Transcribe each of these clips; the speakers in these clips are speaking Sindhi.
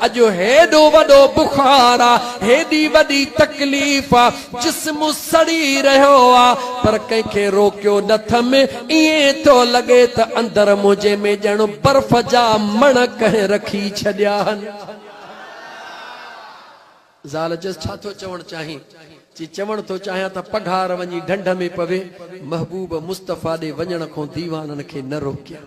اڄ هيڏو وڏو بخار آ، هيڏي وڏي تڪليف آ، جسم سڙي رهيو آ، پر ڪنهن کي روڪيو نه ٿم، ائين ٿو لڳي ته اندر منهنجي ۾ ڄڻ برف جا مڻ ڪنهن رکي ڇڏيا هن. زال چيس، ڇا ٿو چوڻ چاهين؟ چي، چوڻ ٿو چاهيان ته پگهار وڃي ڍنڍ ۾ پوي، محبوب مصطفيٰ ڏي وڃڻ کون ديوانن کي نه روڪيان.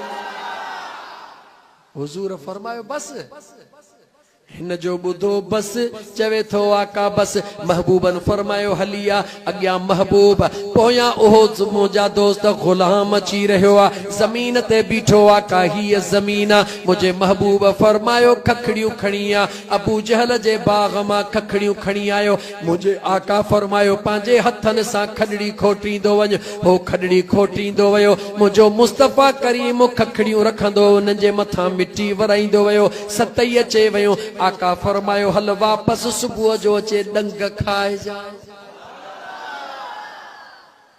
حضور فرمايو بس! هن جو ٻڌو بس! چوي ٿو آقا بس! محبوبن فرمايو هلي آ! اڳيان محبوب پويان اهو منهنجا دوست غلام اچي رهيو آ. زمين تي بيٺو آقا هيء زمين آ. منهنجي محبوب فرمايو ککڙيون کڻي آ! ابوجهل جي باغ مان ککڙيون کڻي آيو. منهنجي آقا فرمايو، پنهنجي هٿن سان کڏڙي کوٽيندو وڃ. هو کڏڙي کوٽيندو ويو. منهنجو مصطفيٰ ڪريم ککڙيون رکندو هو، انهن جي مٿان مٽي ورائيندو ويو. ستئي اچي ويون. آقا فرمايو، هل واپس صبح جو اچي ڏنگ کائجانء.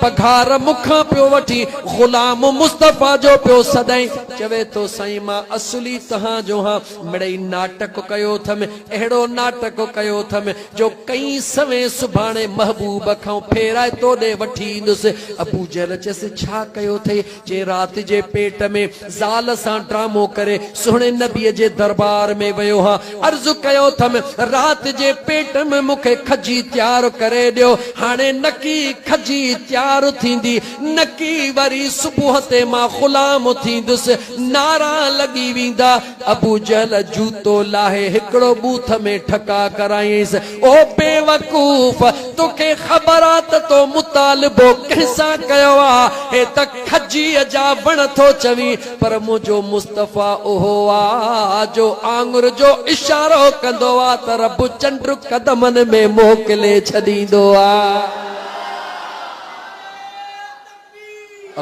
پگهار مون کان پيو وٺي، غلام مصطفيٰ جو پيو سڏائين، چوي ٿو سائين مان اصلي تهان جو هان، مڙئي ناٽڪ ڪيو ٿم، اهڙو ناٽڪ ڪيو ٿم، جو ڪئين سوين سڀاڻي محبوب کانئون ڦيرائي توڏي وٺي ايندس. ابوجهل چيس ڇا ڪيو ٿئي؟ جي رات جي پيٽ ۾ زال سان ڊرامو ڪري سهڻي نبي جي دربار ۾ ويو هان عرض ڪيو ٿم رات جي پيٽ م مون کي کجي تيار ڪري ڏيو هاڻي نڪي کجي تيار ٿيندي نڪي وري صبح تي مان غلام ٿيندس نعرا لڳي ويندا ابوجهل جوتو لاهي هڪڙو بوٿ ۾ ٺڪاء ڪرايائينس، او بيوقوف! توکي خبر آ ته تو مطالبو ڪنهن سان ڪيو آ؟ هي ته کجيء جا وڻ ٿو چوين، پر منهنجو مصطفيٰ اهو آ، جو آڱر جو اشارو ڪندو آ ته رب چنڊ قدمن ۾ موڪلي ڇڏيندو آ.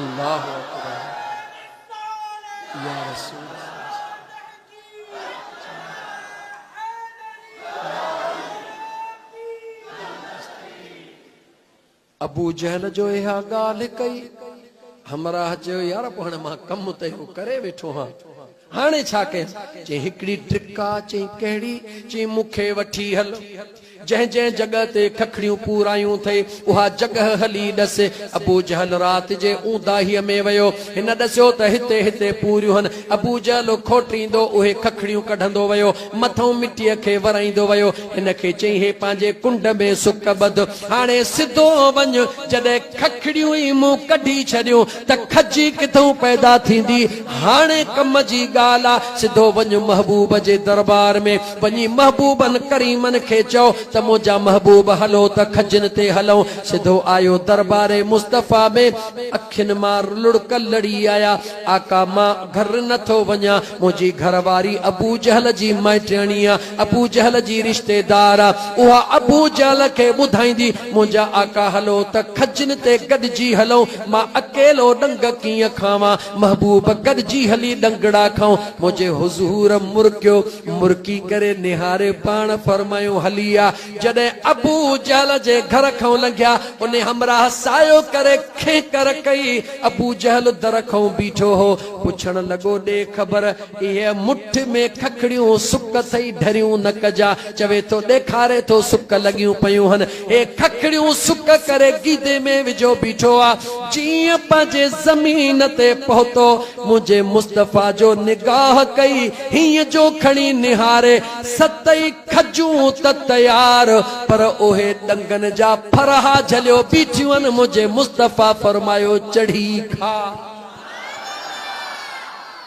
الله اڪبر! يا رسول ابو جهل جو اها ڳالهه ڪئي همراهه چيو يار پوء هاڻي مان ڪم ته اهو ڪري ويٺو هان هاڻي ڇا ڪيان چيائين هڪڙي ٽرڪ آ چيائين ڪهڙي چيائين مون کي وٺي هل جنهن جنهن جڳهه تي ککڙيون پورائيون اٿئي، اها جڳهه هلي ڏس. ابوجهل رات جي اونداهيء ۾ ويو. هن ڏسيو ته هتي هتي پوريون هن. ابوجهل کوٽيندو اهي ککڙيون ڪڍندو ويو. مٿئون مٽيء کي ورائيندو ويو. هن کي چيائين، هي پنهنجي ڪنڊ ۾ سڪ ٻڌ. هاڻي سڌو وڃ. جڏهن ککڙيون ئي مون ڪڍي ڇڏيون. ته کجي ڪٿئون پيدا ٿيندي، هاڻي ڪم جي ڳالهه آ، سڌو وڃ محبوب جي دربار ۾، وڃي محبوبن ڪريمن کي چئو ته منهنجا محبوب هلو ته کجين تي هلئون، سڌو آيو دربار مصطفيٰ ۾، اکين مان لڙڪ لڙي آيا، آقا مان گهر نه ٿو وڃان، منهنجي گهر واري ابوجهل جي مائٽياڻي آ، ابو جهل جي رشتي دار، اها ابو جهل کي ٻڌائيندي، منهنجا آقا هلو ته کجين تي گڏجي هلون، مان اڪيلو ڏنگ ڪيئن کاوان، محبوب گڏجي هلي ڏنگڙا کائون، منهنجي حضور مرڪيو، مرڪي ڪري نهاري پاڻ فرمايو هلي آ، جڏهن ابو جهل جي گهر کان لنگهيا، ان همراهه سايو ڪري کينڪر ڪئي، ابو جهل در کان بيٺو هو، پڇڻ لڳو ڏي خبر. اهي مٺ ۾ ککڙيون سڪ ٿئي ڍريون نه ڪجا. چوي ٿو ڏيکاري ٿو سڪ لڳيون پيون هن. هي ککڙيون سڪ ڪري گيدي ۾ وجهيو بيٺو آ. جيئن پنهنجي زمين تي پهتو منهنجي مصطفيٰ جو نگاهه ڪئي هينئن جو کڻي نهاري ست ئي کجون ته تيار پر اهي ڏنگن جا ڦرها جهليو بيٺيون منهنجي مصطفيٰ فرمايو چڙهي کاء.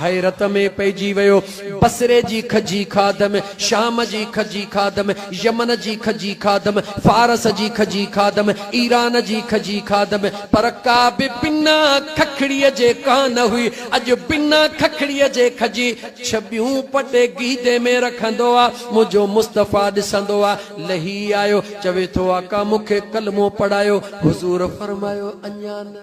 حيرت ۾ پئجي ويو. بصري جي کجي خادم، شام جي کجي خادم، يمن جي کجي خادم، فارس جي کجي خادم، ايران جي کجي خادم، پر ڪا به بنا ککڙيء جي ڪا نه هئي. اڄ بنا ککڙيء جي کجي ڇٻيون پٽي گيدي ۾ رکندو آ. منهنجو مصطفيٰ ڏسندو آ، لهي آيو، چوي ٿو، آقا مون کي ڪلمو پڙهايو. حضور فرمايو، اڃا نه.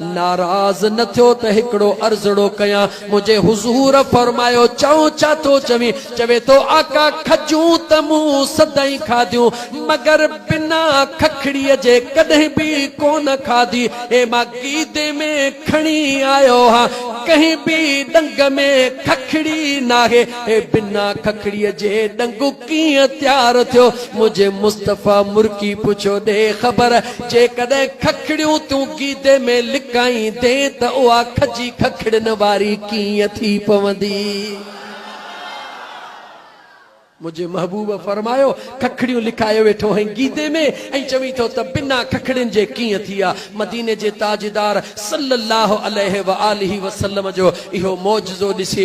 ناراض نه ٿيو ته هڪڙو عرضڙو ڪيان، منهنجي حضور فرمايو، چئو ڇا ٿو چوين؟ چوي ٿو، آقا کجون ته مون سدائين کاڌيون، مگر بنا ککڙيء جي ڪڏهن به ڪونه کاڌي، هي مان گيدي ۾ کڻي آيو آهيان، ڪنهن به ڏنگ ۾ ککڙي ناهي، هي بنا ککڙيء جي ڏنگ. ڪيئن تيار ٿيو منهنجي مصطفيٰ مرڪي پڇيو ڏي خبر جيڪڏهن ککڙيون تون گيدي ۾ لڪائيندين ته اها کجي ککڙين واري ڪيئن ٿي پوندي منهنجي محبوب فرمايو ککڙيون لڪائي ويٺو آهين گيدي ۾ ۽ چوين ٿو ته بنا ککڙين جي ڪيئن ٿي ها مديني جي تاجدار صلّي اللّٰه عليه واٰله وسلّم جو اهو معجزو ڏسي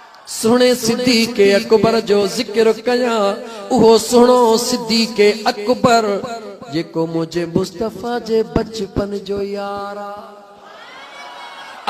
سهڻي صديق اڪبر جو ذڪر ڪيان، اهو سهڻو صديق اڪبر، جيڪو منهنجي مصطفيٰ جي بچپن جو يار آ.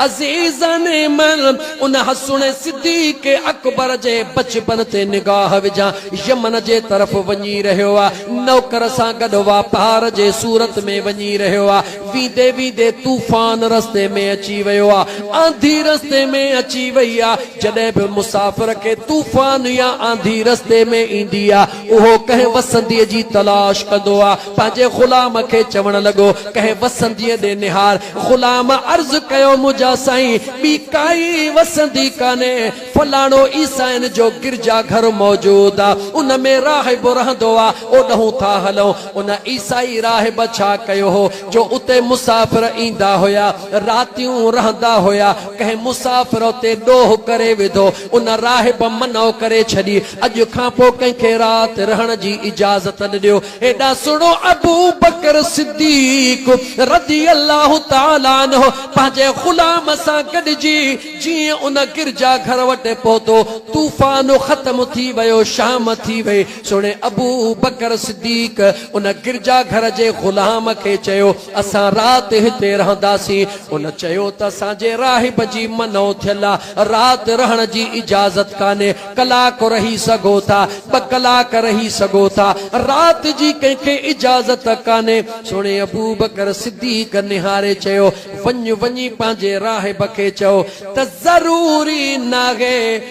عزيزن من ان سهڻي صديق اڪبر جي بچپن تي نگاهه وجهان، يمن جي طرف وڃي رهيو آ، نوڪر سان گڏ واپار جي صورت ۾ وڃي رهيو آ، ويندي ويندي طوفان رستي ۾ اچي ويو آ، آنڌي رستي ۾ اچي وئي آ، جڏهن به مسافر کي طوفان يا آنڌي رستي ۾ ايندي آ، اهو ڪنهن وسنديء جي تلاش ڪندو آ، پنهنجي غلام کي چوڻ لڳو، ڪنهن وسنديء ڏي نهار، غلام عرض ڪيو، منهنجا سائين ٻي ڪائي وسندي ڪانهي، فلاڻو عيسائين جو گرجا گهر موجود آ، ان ۾ راهب رهندو آ، اوڏهون ٿا هلون. ان عيسائي راهب ڇا ڪيو هو جو اتي مسافر ايندا هيا راتيون رهندا هيا ڪنهن مسافر اتي ڏوهه ڪري وڌو ان راهب منع ڪري ڇڏي اڄ کان پو ڪنهن کي رات رهڻ جي اجازت نه ڏيو هيڏا سڻو ابو بڪر صديق رضي الله تعالي عنه پنهنجي غلام سان گڏجي جيئن ان گرجا گهر وٽ پهتو طوفان ختم ٿي ويو شام ٿي وئي سڻي ابو بڪر صديق ان گرجا گهر جي غلام کي چيو اسان رات هتي رهنداسين ان چيو ته اسان جي راهب جي منو ٿيل آ رات رهڻ جي اجازت ڪانهي ڪلاڪ رهي سگهو ٿا ٻه ڪلاڪ رهي سگهو ٿا رات جي ڪنهن کي اجازت ڪانهي سڻي ابو بڪر صديق نهاري چيو وڃ وڃي پنهنجي راهب کي چئو ته ضروري ناهي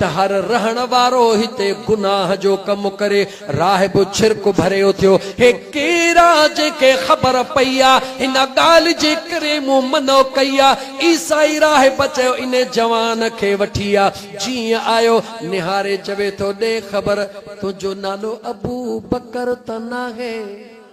ته هر رهڻ وارو هتي گناهه جو ڪم ڪري راهب ڇرڪ ڀري اٿيو هي ڪيرا جنهن کي خبر پئي آ هن ڳالهه جي ڪري مون منع ڪئي آ عيسائي راهب چيو ان جوان کي وٺي آ جيئن آيو نهاري چوي ٿو ڏي خبر تنهنجو نالو ابو بڪر ته ناهي.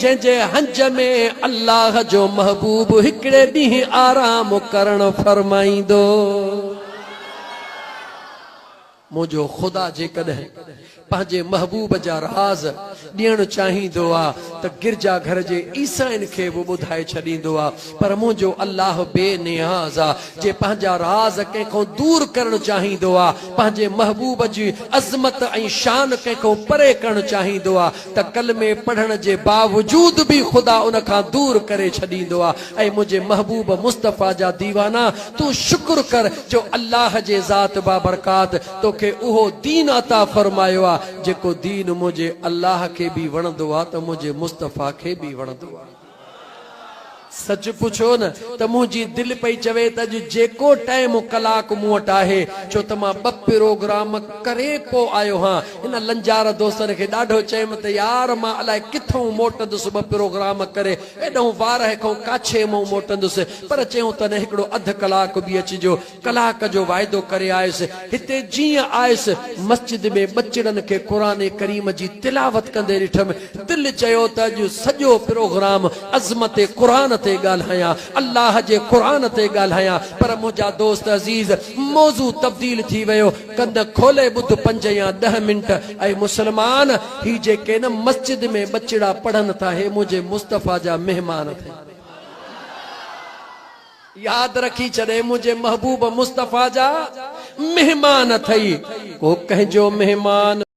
جنهن جي هنج ۾ الله جو محبوب هڪڙي ڏينهن آرام ڪرڻ فرمائيندو. منهنجو خدا جيڪڏهن پنهنجي محبوب جا راز ڏيڻ چاهيندو آ ته گرجا گهر جي عيسائين کي به ٻڌائي ڇڏيندو آ پر منهنجو الله بي نياز آ جي پنهنجا راز ڪنهن کان دور ڪرڻ چاهيندو آ پنهنجي محبوب جي عظمت ۽ شان ڪنهن کان پري ڪرڻ چاهيندو آ ته ڪلمي پڙهڻ جي باوجود به خدا ان کان دور ڪري ڇڏيندو آ اي منهنجي محبوب مصطفيٰ جا ديوانا تون شڪر ڪر جو الله جي ذات بابرڪات توکي اهو دين عطا فرمايو آ جيڪو دين منهنجي الله کي به وڻندو آ ته منهنجي مصطفيٰ کي به وڻندو آ. سچ پڇو نه ته منهنجي دل پئي چوي ته اڄ جيڪو ٽئم و ڪلاڪ مون وٽ آهي ڇو ته مان ٻه پروگرام ڪري پو آيو هان هن لنجار دوستن کي ڏاڍو چيم ته يار مان الائي ڪٿئون موٽندس ٻه پروگرام ڪري ايڏئون وارهه کئون ڪاڇي مئون موٽندس پر چيون ته نه هڪڙو اڌ ڪلاڪ به اچجو ڪلاڪ جو واعدو ڪري آيس، هتي جيئن آيس مسجد ۾ ٻچڙن کي قرآن ڪريم جي تلاوت ڪندي ڏٺم، دل چيو ته اڄ سڄو پروگرام عظمت قرآن تي ڳالهايان، الله جي قرآن تي ڳالهايان، پر منهنجا دوست عزيز موضوع تبديل ٿي ويو، ڪن کولي ٻڌ پنج يا ڏهه منٽ، اي مسلمان! هي جيڪي نه مسجد ۾ ٻچڙا پڙهن ٿا هي منهنجي مصطفيٰ جا مهمان اٿئي. ياد رکي جڏهن منهنجي محبوب مصطفيٰ جا مهمان اٿئي ڪو ڪنهن جو مهمان.